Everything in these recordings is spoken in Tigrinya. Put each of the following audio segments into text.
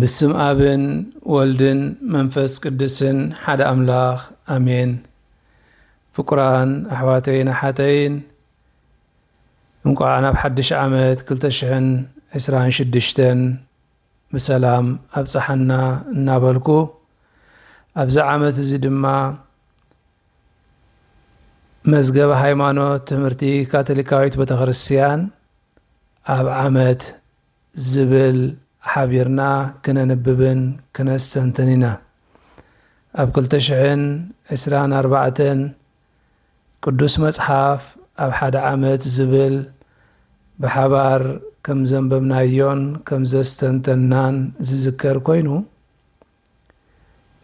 ብስም ኣብን ወልድን መንፈስ ቅዱስን ሓደ ኣምላኽ ኣሜን። ፍቁራን ኣሕዋተይን ኣሓተይን እንቋዕ ናብ ሓድሽ ዓመት 226 ብሰላም ኣብፀሓና እናበልኩ ኣብዚ ዓመት እዚ ድማ መዝገበ ሃይማኖት ትምህርቲ ካቶሊካዊት ቤተክርስትያን ኣብ ዓመት ዝብል ሓቢርና ክነንብብን ክነስተንትን ኢና። ኣብ ክልተ ሽሕን ዕስራን ኣርባዕተን ቅዱስ መጽሓፍ ኣብ ሓደ ዓመት ዝብል ብሓባር ከም ዘንበብናዮን ከም ዘስተንተንናን ዝዝከር ኮይኑ፣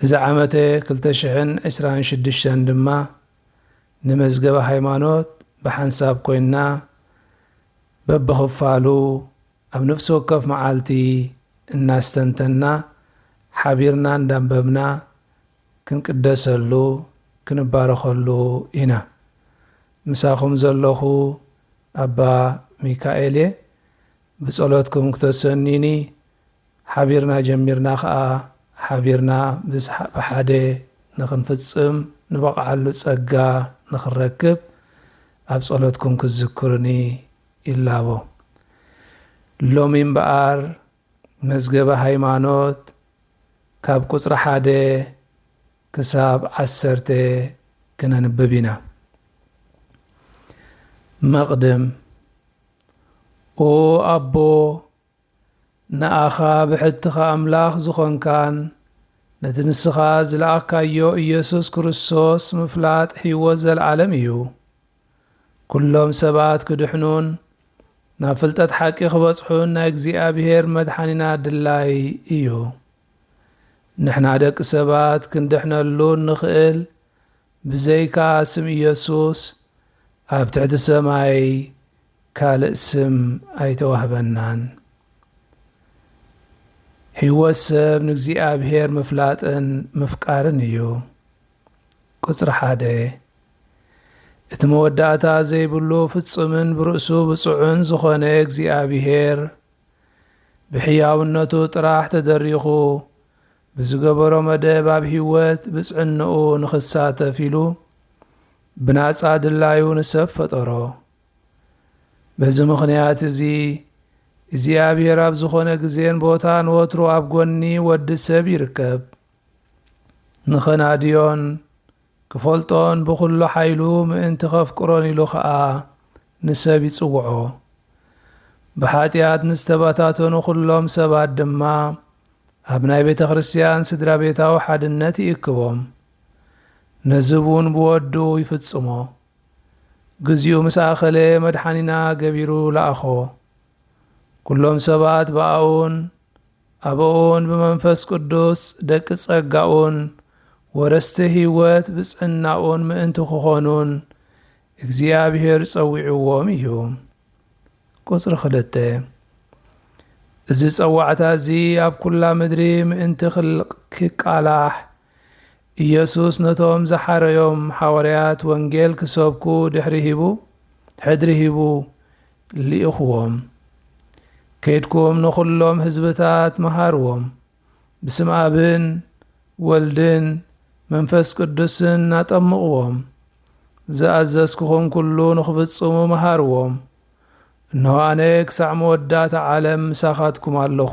እዚ ዓመተ ክልተ ሽሕን ዕስራን ሽዱሽተን ድማ ንመዝገበ ሃይማኖት ብሓንሳብ ኮይንና በብኽፋሉ ኣብ ነፍሲ ወከፍ መዓልቲ እናስተንተንና ሓቢርና እንዳንበብና ክንቅደሰሉ ክንባረኸሉ ኢና። ምሳኹም ዘለኹ ኣባ ሚካኤል'የ። ብጸሎትኩም ክተሰንዩኒ ሓቢርና ጀሚርና ከኣ ሓቢርና ብሓደ ንኽንፍጽም ንበቕዓሉ ጸጋ ንኽንረክብ ኣብ ጸሎትኩም ክትዝክሩኒ ይላቦ። ሎሚ እምበኣር መዝገበ ሃይማኖት ካብ ቁጽሪ ሓደ ክሳብ ዓሰርተ ክነንብብ ኢና። መቕድም ኦ ኣቦ ንኣኻ ብሕትኻ ኣምላኽ ዝኾንካን ነቲ ንስኻ ዝለኣኽካዮ ኢየሱስ ክርስቶስ ምፍላጥ ሕይወት ዘለዓለም እዩ። ኩሎም ሰባት ክድሕኑን ናብ ፍልጠት ሓቂ ክበጽሑን ናይ እግዚኣብሔር መድሓኒና ድላይ እዩ። ንሕና ደቂ ሰባት ክንድሕነሉ እንኽእል ብዘይካ ስም ኢየሱስ ኣብ ትሕቲ ሰማይ ካልእ ስም ኣይተዋህበናን። ሕይወት ሰብ ንእግዚኣብሔር ምፍላጥን ምፍቃርን እዩ። ቁጽሪ ሓደ እቲ መወዳእታ ዘይብሉ ፍጹምን ብርእሱ ብፁዕን ዝኾነ እግዚኣብሔር ብሕያውነቱ ጥራሕ ተደሪኹ ብዝገበሮ መደብ ኣብ ህይወት ብፅዕንኡ ንኽሳተፍ ኢሉ ብናፃ ድላዩ ንሰብ ፈጠሮ። በዚ ምኽንያት እዚ እግዚኣብሔር ኣብ ዝኾነ ግዜን ቦታን ወትሩ ኣብ ጎኒ ወዲ ሰብ ይርከብ። ንኸናድዮን ክፈልጦን ብዅሉ ሓይሉ ምእንቲ ኼፍቅሮን ኢሉ ኸኣ ንሰብ ይጽውዖ። ብሓጢኣት ንዝተበታተኑ ዅሎም ሰባት ድማ ኣብ ናይ ቤተ ክርስትያን ስድራ ቤታዊ ሓድነት ይእክቦም። ነዚ እውን ብወዱ ይፍጽሞ። ግዚኡ ምስ ኣኸለ መድሓኒና ገቢሩ ለኣኾ። ኵሎም ሰባት ብኣኡን ኣብኡን ብመንፈስ ቅዱስ ደቂ ጸጋኡን ወረስቲ ሕይወት ብፅዕናኡን ምእንቲ ክኾኑን እግዚኣብሔር ጸዊዕዎም እዩ። ቁጽሪ ክልተ እዚ ጸዋዕታ እዚ ኣብ ኩላ ምድሪ ምእንቲ ክቃላሕ ኢየሱስ ነቶም ዝሓረዮም ሓዋርያት ወንጌል ክሰብኩ ድሕሪ ሂቡ ሕድሪ ሂቡ ልኢኽዎም። ከይድኩም ንኹሎም ህዝብታት መሃርዎም፣ ብስም ኣብን ወልድን መንፈስ ቅዱስን ኣጠምቕዎም፣ ዝኣዘዝኩኹም ኩሉ ንኽፍጽሙ መሃርዎም፣ እንሆ ኣነ ክሳዕ መወዳእታ ዓለም ምሳኻትኩም ኣለኹ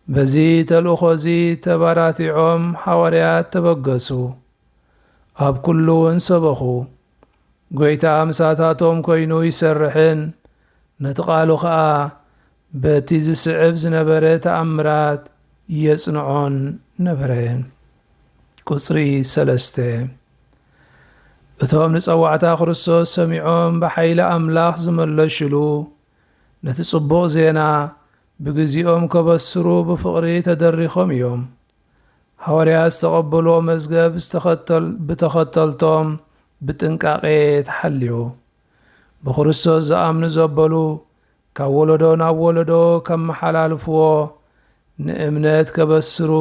በዚ ተልእኾ እዚ ተባራቲዖም ሓዋርያት ተበገሱ፣ ኣብ ኩሉ እውን ሰበኹ። ጐይታ ምሳታቶም ኮይኑ ይሰርሕን ነቲ ቃሉ ኸኣ በቲ ዝስዕብ ዝነበረ ተኣምራት የጽንዖን ነበረ። ቁጽሪ ሰለስተ እቶም ንጸዋዕታ ክርስቶስ ሰሚዖም ብሓይሊ ኣምላኽ ዝመለሽሉ ነቲ ጽቡቕ ዜና ብግዜኦም ከበስሩ ብፍቕሪ ተደሪኾም እዮም። ሃዋርያት ዝተቐበልዎ መዝገብ ብተኸተልቶም ብጥንቃቄ ተሓልዩ። ብክርስቶስ ዝኣምኑ ዘበሉ ካብ ወለዶ ናብ ወለዶ ከመሓላልፍዎ ንእምነት ከበስሩ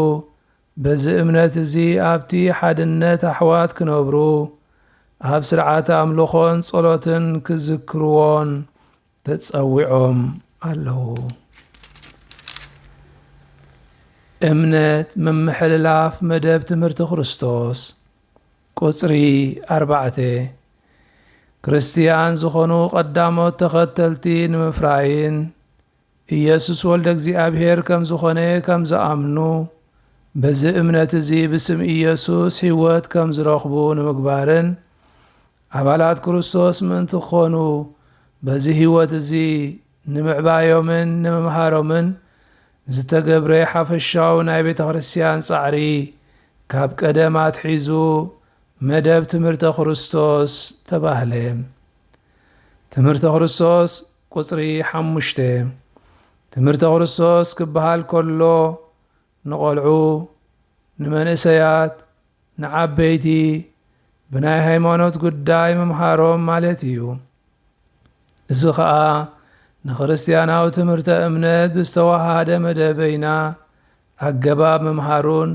በዚ እምነት እዚ ኣብቲ ሓድነት ኣሕዋት ክነብሩ ኣብ ስርዓተ ኣምልኾን ጸሎትን ክዝክርዎን ተጸዊዖም ኣለዉ። እምነት ምምሕልላፍ መደብ ትምህርቲ ክርስቶስ ቁጽሪ ኣርባዕተ ክርስትያን ዝኾኑ ቀዳሞት ተኸተልቲ ንምፍራይን ኢየሱስ ወልደ እግዚኣብሔር ከም ዝኾነ ከም ዝኣምኑ በዚ እምነት እዚ ብስም ኢየሱስ ሕይወት ከም ዝረኽቡ ንምግባርን ኣባላት ክርስቶስ ምእንቲ ክዀኑ፣ በዚ ህይወት እዚ ንምዕባዮምን ንምምሃሮምን ዝተገብረ ሓፈሻዊ ናይ ቤተ ክርስቲያን ጻዕሪ፣ ካብ ቀደም ኣትሒዙ መደብ ትምህርተ ክርስቶስ ተባህለ። ትምህርተ ክርስቶስ፣ ቁጽሪ ሓሙሽተ፣ ትምህርተ ክርስቶስ ክበሃል ከሎ፣ ንቆልዑ፣ ንመንእሰያት፣ ንዓበይቲ ብናይ ሃይማኖት ጉዳይ ምምሃሮም ማለት እዩ። እዚ ኸኣ ንክርስትያናዊ ትምህርተ እምነት ብዝተወሃሃደ መደበይና ኣገባብ ምምሃሩን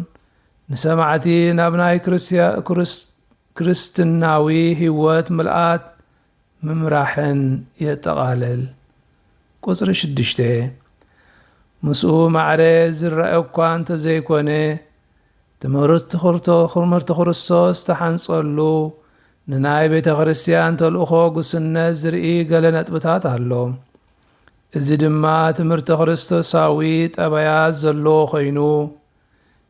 ንሰማዕቲ ናብ ናይ ክርስትናዊ ሕይወት ምልኣት ምምራሕን የጠቓልል። ቁጽሪ ሽዱሽተ፣ ምስኡ ማዕረ ዝረኣ እኳ እንተዘይኮነ፣ ትምህርት ትክርቶ ክርምህርት ክርስቶስ ዝተሓንጸሉ ንናይ ቤተ ክርስቲያን ተልእኮ ግሱነት ዝርኢ ገለ ነጥብታት ኣሎ። እዚ ድማ ትምህርተ ክርስቶሳዊ ጠባያት ዘለዎ ኮይኑ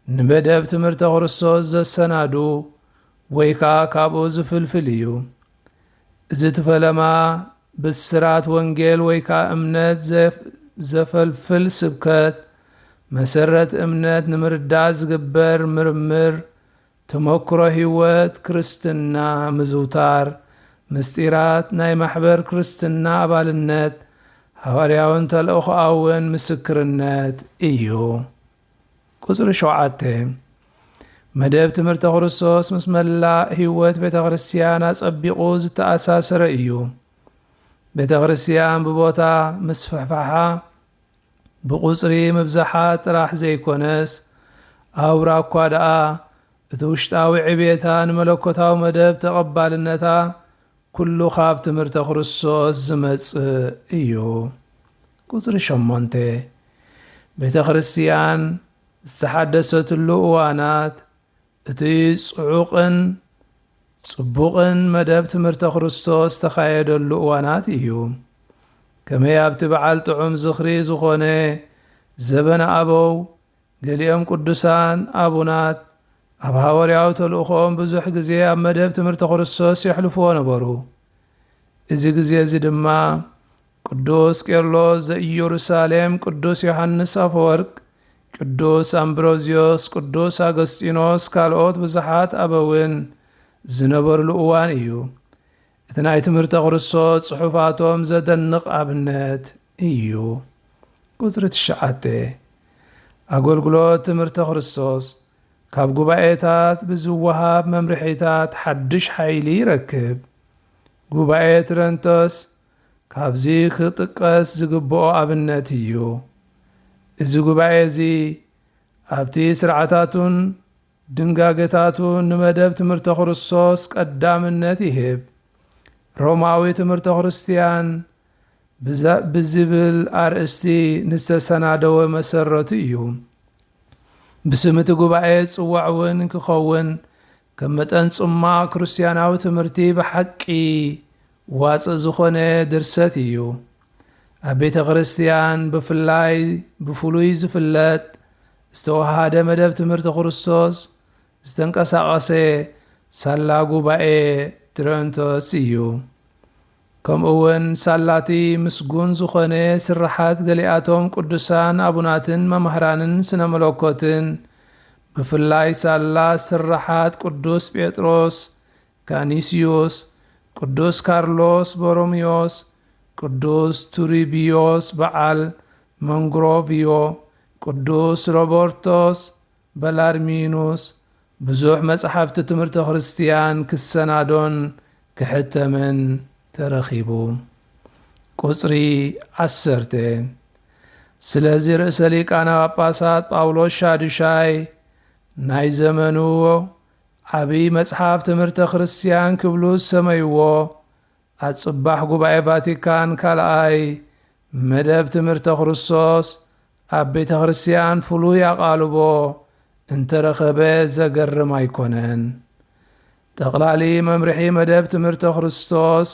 ንመደብ ትምህርተ ክርስቶስ ዘሰናዱ ወይ ከዓ ካብኡ ዝፍልፍል እዩ። እዚ እቲ ፈለማ ብስራት ወንጌል ወይ ከኣ እምነት ዘፈልፍል ስብከት፣ መሰረት እምነት ንምርዳእ ዝግበር ምርምር፣ ተመክሮ ሕይወት ክርስትና ምዝውታር፣ ምስጢራት ናይ ማሕበር ክርስትና ኣባልነት፣ ሃዋርያውን ተልእኾኣውን ምስክርነት እዩ። ቁጽሪ ሸውዓተ፣ መደብ ትምህርተ ክርስቶስ ምስ መላእ ሕይወት ቤተ ክርስቲያን ኣጸቢቑ ዝተኣሳስረ እዩ። ቤተ ክርስቲያን ብቦታ ምስፍሕፋሓ ብቁጽሪ ምብዛሓ ጥራሕ ዘይኮነስ ኣውራ እኳ ደኣ እቲ ውሽጣዊ ዕብየታ ንመለኮታዊ መደብ ተቐባልነታ ኩሉ ካብ ትምህርተ ክርስቶስ ዝመጽእ እዩ። ቁጽሪ ሸሞንተ፣ ቤተ ክርስቲያን ዝተሓደሰትሉ እዋናት እቲ ጽዑቕን ጽቡቕን መደብ ትምህርተ ክርስቶስ ዝተኻየደሉ እዋናት እዩ። ከመይ ኣብቲ በዓል ጥዑም ዝኽሪ ዝኾነ ዘበነ ኣበው ገሊኦም ቅዱሳን ኣቡናት ኣብ ሃወርያዊ ተልእኾኦም ብዙሕ ግዜ ኣብ መደብ ትምህርተ ክርስቶስ የሕልፍዎ ነበሩ። እዚ ግዜ እዚ ድማ ቅዱስ ቄርሎስ ዘኢየሩሳሌም፣ ቅዱስ ዮሓንስ ኣፈወርቅ፣ ቅዱስ ኣምብሮዝዮስ፣ ቅዱስ ኣገስጢኖስ ካልኦት ብዙሓት ኣበውን ዝነበርሉ እዋን እዩ። እቲ ናይ ትምህርተ ክርስቶስ ጽሑፋቶም ዘደንቕ ኣብነት። እዩ። ቁጽሪ ትሽዓተ፣ ኣገልግሎት ትምህርተ ክርስቶስ ካብ ጉባኤታት ብዝወሃብ መምርሒታት ሓድሽ ሓይሊ ይረክብ። ጉባኤ ትረንቶስ ካብዚ ክጥቀስ ዝግብኦ ኣብነት እዩ። እዚ ጉባኤ እዚ ኣብቲ ስርዓታቱን ድንጋገታቱን ንመደብ ትምህርተ ክርስቶስ ቀዳምነት ይህብ። ሮማዊ ትምህርተ ክርስትያን ብዝብል ኣርእስቲ ንዝተሰናደወ መሰረቱ እዩ። ብስም እቲ ጉባኤ ዝጽዋዕ እውን ክኸውን ከም መጠን ጽሟቕ ክርስትያናዊ ትምህርቲ ብሓቂ ዋጽእ ዝኾነ ድርሰት እዩ። ኣብ ቤተ ክርስትያን ብፍላይ ብፍሉይ ዝፍለጥ ዝተወሃደ መደብ ትምህርቲ ክርስቶስ ዝተንቀሳቐሰ ሳላ ጉባኤ ትረንቶስ እዩ። ከምኡውን ሳላቲ ምስጉን ዝኾነ ስርሓት ገሊኣቶም ቅዱሳን ኣቡናትን መማህራንን ስነ መለኮትን ብፍላይ ሳላ ስርሓት ቅዱስ ጴጥሮስ፣ ካኒስዩስ፣ ቅዱስ ካርሎስ ቦሮምዮስ፣ ቅዱስ ቱሪቢዮስ በዓል መንግሮቪዮ፣ ቅዱስ ሮቦርቶስ፣ በላርሚኖስ ብዙሕ መጻሕፍቲ ትምህርተ ክርስትያን ክሰናዶን ክሕተምን ተረኺቡ። ቍጽሪ ዓሰርተ። ስለዚ ርእሰ ሊቃነ ጳጳሳት ጳውሎስ ሻዱሻይ ናይ ዘመኑ ዓብይ መጽሓፍ ትምህርተ ክርስትያን ክብሉ ዝሰመይዎ ኣብ ጽባሕ ጉባኤ ቫቲካን ካልኣይ መደብ ትምህርተ ክርስቶስ ኣብ ቤተ ክርስቲያን ፍሉይ ኣቓልቦ እንተረኸበ ዘገርም ኣይኮነን። ጠቕላሊ መምርሒ መደብ ትምህርተ ክርስቶስ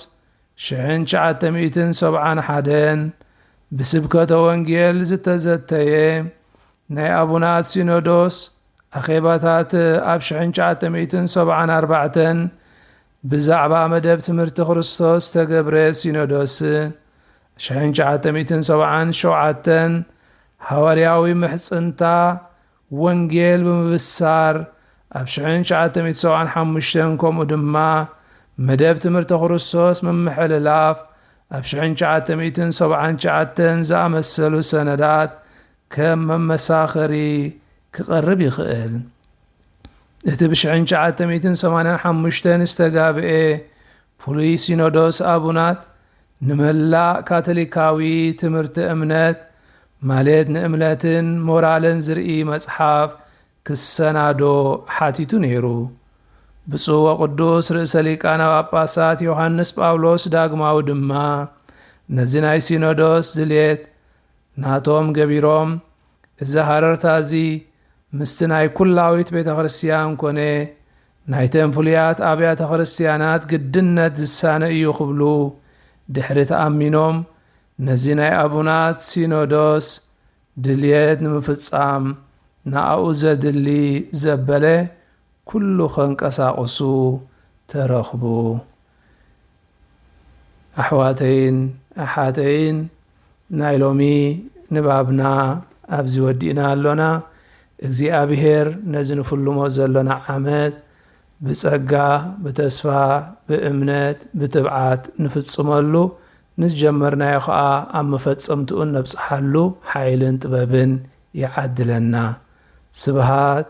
ሽሕን ትሽዓተ ሚእትን ሰብዓን ሓደን ብስብከተ ወንጌል ዝተዘተየ ናይ ኣቡናት ሲኖዶስ ኣኼባታት ኣብ ሽሕን ትሽዓተ ሚእትን ሰብዓን ኣርባዕተን ብዛዕባ መደብ ትምህርቲ ክርስቶስ ዝተገብረ ሲኖዶስ ሽሕን ትሽዓተ ሚእትን ሰብዓን ሸውዓተን ሓዋርያዊ ምሕጽንታ ወንጌል ብምብሳር ኣብ ሽሕን ትሽዓተ ሚእቲ ሰብዓን ሓሙሽተን ከምኡ ድማ መደብ ትምህርቲ ክርስቶስ ምምሕልላፍ ኣብ ሽሕን ትሽዓተ ሚእትን ሰብዓን ትሽዓተን ዝኣመሰሉ ሰነዳት ከም መመሳኸሪ ክቐርብ ይኽእል። እቲ ብ ሽሕን ትሽዓተ ሚእትን ሰማንያን ሓሙሽተን ዝተጋብኤ ፍሉይ ሲኖዶስ ኣቡናት ንመላእ ካቶሊካዊ ትምህርቲ እምነት ማልት ንእምነትን ሞራልን ዝርኢ መጽሓፍ ክሰናዶ ሓቲቱ ነይሩ። ብፁዕ ወቅዱስ ርእሰ ሊቃነ ጳጳሳት ዮሐንስ ጳውሎስ ዳግማዊ ድማ ነዚ ናይ ሲኖዶስ ድሌት ናቶም ገቢሮም እዚ ሃረርታ እዚ ምስቲ ናይ ኩላዊት ቤተክርስትያን ኮነ ናይተን ፍሉያት ኣብያተ ክርስትያናት ግድነት ዝሳነ እዩ ክብሉ ድሕሪ ተኣሚኖም ነዚ ናይ ኣቡናት ሲኖዶስ ድልየት ንምፍጻም ንኣኡ ዘድሊ ዘበለ ኩሉ ከንቀሳቕሱ ተረኽቡ። ኣሕዋተይን ኣሓተይን ናይ ሎሚ ንባብና ኣብዚ ወዲእና ኣሎና። እግዚኣብሄር ነዚ ንፍልሞ ዘሎና ዓመት ብጸጋ፣ ብተስፋ፣ ብእምነት፣ ብትብዓት ንፍጽመሉ፣ ንዝጀመርናዮ ከኣ ኣብ መፈጸምትኡ እነብጽሓሉ ሓይልን ጥበብን ይዓድለና። ስብሃት